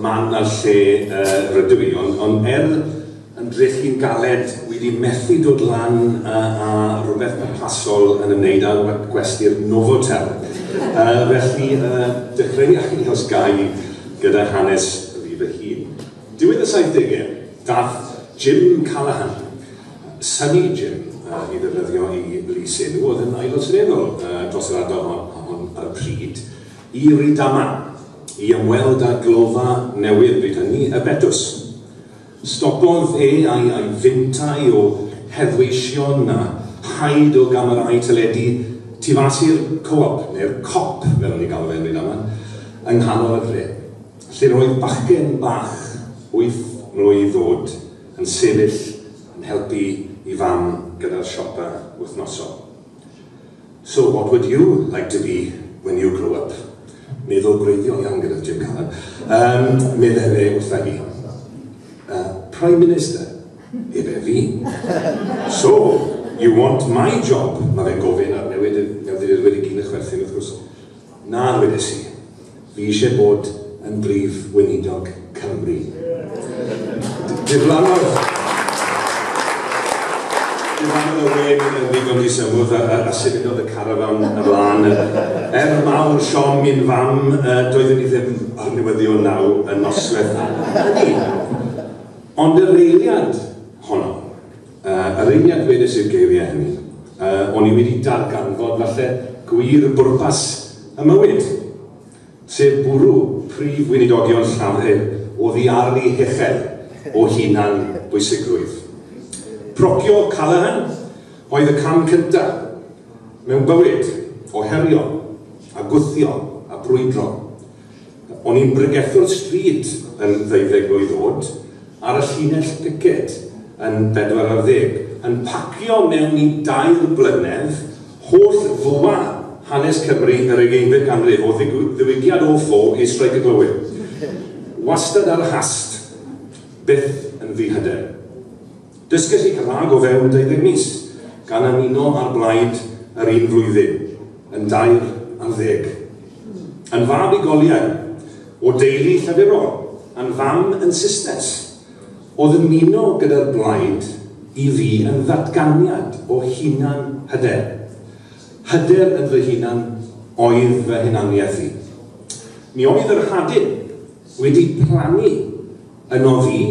man na lle rydw i, ond ond er yn drechu'n galed wi di methu dod lan a a rwbeth pwrpasol yn ymwneud â gwe- gwesty'r Novotel. Yy felly yy dechreuaf i os gai gyda hanes fi fy hun. Diwedd y saithdege dath Jim Callaghan, Sunny Jim yy i ddefnyddio i lys enw, o'dd yn Aelod Seneddol yy dros yr ardal hon hon ar y pryd, i Rydama i ymweld â glofa newydd bryd hynny, y Betws. Stopodd e a'i a'i fintai o heddweision a haid o gamerâu teledu tu fas i'r Co-op, neu'r Cop fel o'n ni'n galw fe yn Rydama, yng nghanol y dre, lle roedd bachgen bach wyth mlwydd oed yn sefyll yn helpu i fam gyda'r siopa wythnosol. So what would you like to be when you grow up? Meddwl gwreiddiol iawn gyda Jim Callum. Yym, meddai fe wrtha i. Uh, Prime Minister, efe fi. So, you want my job? Mae fe'n gofyn ar newid y newyddiadurwyr i gyd yn chwerthin, wrth gwrs. Na, ddwedais i. Fi eisiau bod yn Brif Weinidog Cymru. Diflannodd Diflannodd y wên yn ddigon di symwth a, a, a symudodd y carafan ymlaen. Er mawr siom mi'n fam, doeddwn i ddim o'r newyddion naw y nosweth hynny. Ond y reiliad honno. Yr eiliad dwedais i'r geiriau hynny, o'n i wedi darganfod, falle, gwir bwrpas y mywyd, sef bwrw prif weinidogion Llafur oddi ar eu hechel o hunan bwysigrwydd. Procio Callaghan oedd y cam cyntaf mewn bywyd o herio a gwthio a brwydro. O'n i'n bregethwr stryd yn ddeuddeg mlwydd o'd, ar y llinell piced yn bedwar ar ddeg, yn pacio mewn i dair blynedd holl fwa hanes Cymru yr ugeinfed ganrif, o ddiwygiad o ffo i streic y glowyr. Wastad ar y hast, byth yn ddihyder. Dysgais i Cymraeg o fewn deuddeg mis, gan ymuno â'r blaid yr un flwyddyn, yn dair ar ddeg. Yn fab i goliau, o deulu llefurol, a'n fam yn Susnes, oedd ymuno gyda'r blaid i fi yn ddatganiad o hunan hyder. Hyder yn fy hunan oedd fy hunaniaeth i. Mi oedd yr hadyn wedi plannu yn oddi,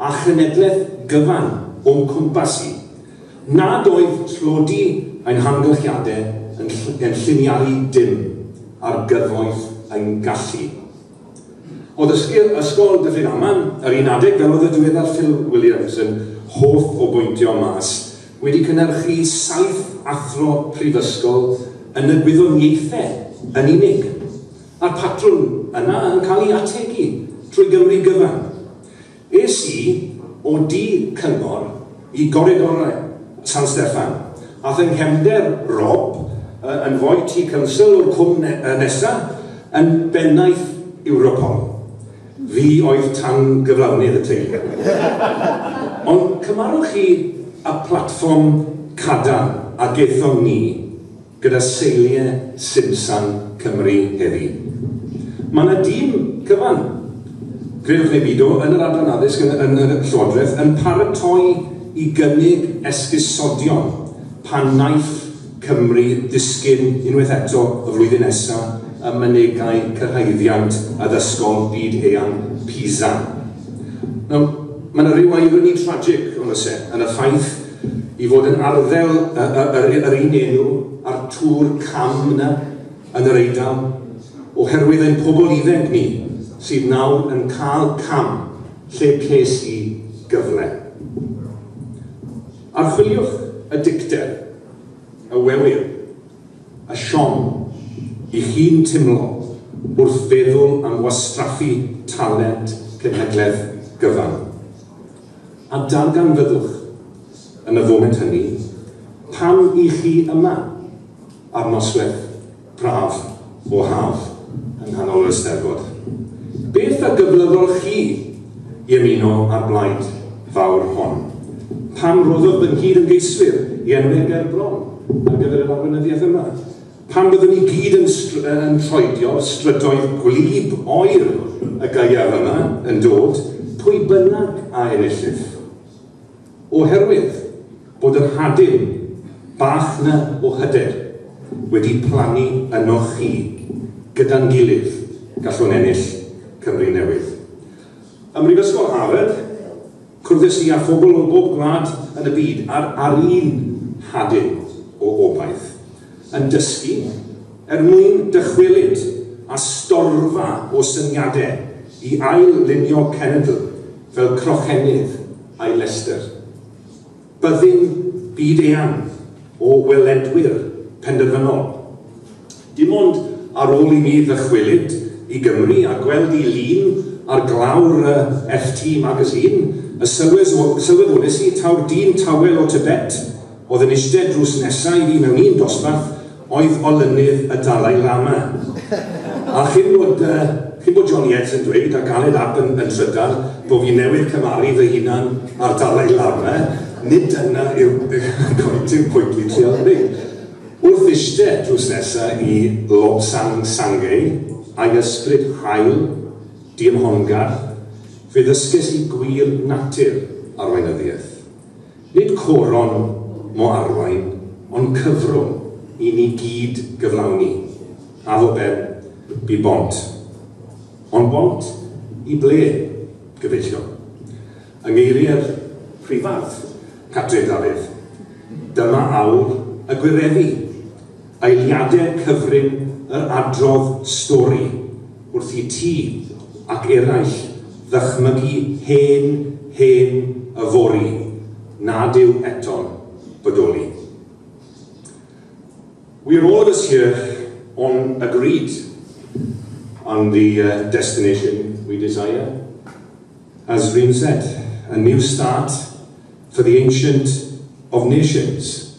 a chenedlaeth gyfan o'm cwmpas i, nad oedd tlodi ein hamgylchiadau yn yn lliniaru dim ar gyfoeth ein gallu. O ddysgu ysgol Dyffryn Aman, yr un adeg, fel oedd y diweddar Phil Williams yn hoff o bwyntio mas, wedi cynhyrchu saith athro prifysgol yn y gwyddoniaethau yn unig. Mae'r patrwm yna yn cael ei ategu trwy Gymru gyfan. Es i o du Cyngor i goridorau San Steffan, a fy nghefnder Rob, yn foi tu council o'r cwm nesa yn bennaeth Europol. Fi oedd tan gyflawnydd y teulu. Ond cymarwch chi y platfform cadarn a gaethon ni. gyda seiliau Simsan Cymru heddi. Mae yna dîm cyfan, credwch neu bido, yn yr Adran Addysg yn y, yn y Llywodraeth yn paratoi i gynnig esgusodion pan wnaiff Cymru ddisgyn unwaith eto y flwyddyn nesa ym mynegai cyrhaeddiant addysgol byd-eang PISA. Nawr, mae yna ryw irony tragic, ond oes e, yn y ffaith i fod yn arddel y, y, yr, yr un enw a'r tŵr cam yna yn yr Eidal, oherwydd ein pobl iddeg ni sydd nawr yn cael cam lle ces i gyfle. Archwiliwch y dicter, y wewir, y siom i chi'n timlo wrth feddwl am wastraffu talent cenhedlaeth gyfan. A darganfyddwch, yn y foment hynny, pam i chi yma, ar nosweth braf o haf, yng nghanol yr Eisteddfod. Beth a gyflyddodd chi i ymuno â'r blaid fawr hon? Pam roddodd fy nghyd-ymgeiswyr i enw eu ger bron ar gyfer yr arweinyddiaeth yma? Pan fyddwn ni gyd yn yn troedio'r strydoedd gwlyb oer y gaeaf yma yn dod, pwy bynnag a enillif. Oherwydd bod yr hadyn bach 'na o hyder wedi plannu ynoch chi, gyda'n gilydd, gallwn ennill Cymru newydd. Ym Mhrifysgol Harvard, Cwrddais i â phobl o bob gwlad yn y byd ar ar un nhadyn o obaith, yn dysgu er mwyn dychwelyd â storfa o syniade i ail-lunio cenedl fel crochennydd ai Leicester. Byddin byd-eang o weledwyr penderfynol. Dim ond ar ôl i mi ddychwelyd i Gymru a gweld i lun ar glawr y FT Magazine y sylwes o, sylweddolais i taw'r dyn tawel o Tibet oedd yn iste drws nesa i fi mewn un dosbarth Oedd olynydd y Dalai Lama. A chyn bod yy chyn bod Johnny Ets yn dweud a ganed ap yn yn trydar bo fi newydd cymaru fy hunan a'r Dalai Lama, nid dyna yw gwaith yw pwynt fi trial dweud. Wrth ishte drws nesa i Lobsang Sangay ag ysbryd hael, diymhongarth, fe ddysges i gwir natur arweinyddiaeth. Nid coron mo arwain, ond cyfrwng i ni gyd gyflawni, a fo ben, bu bont. Ond bont i ble, gyfeillion? Yng ngeiriau'r Prifardd, Catrin Dafydd, dyma awr y gwireddu! Eiliadau cyfrin yr adrodd stori wrth i ti ac eraill ddychmygu hen, hen yfory nad yw eto'n bodoli. We're all of us here on agreed on the destination we desire, as Rhun said, a new start for the ancient of nations.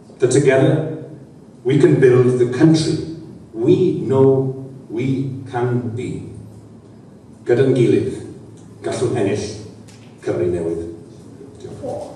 The together we can build the country we know we can be Gyda'n gilydd, gallwn ennill Cymru newydd. Diolch.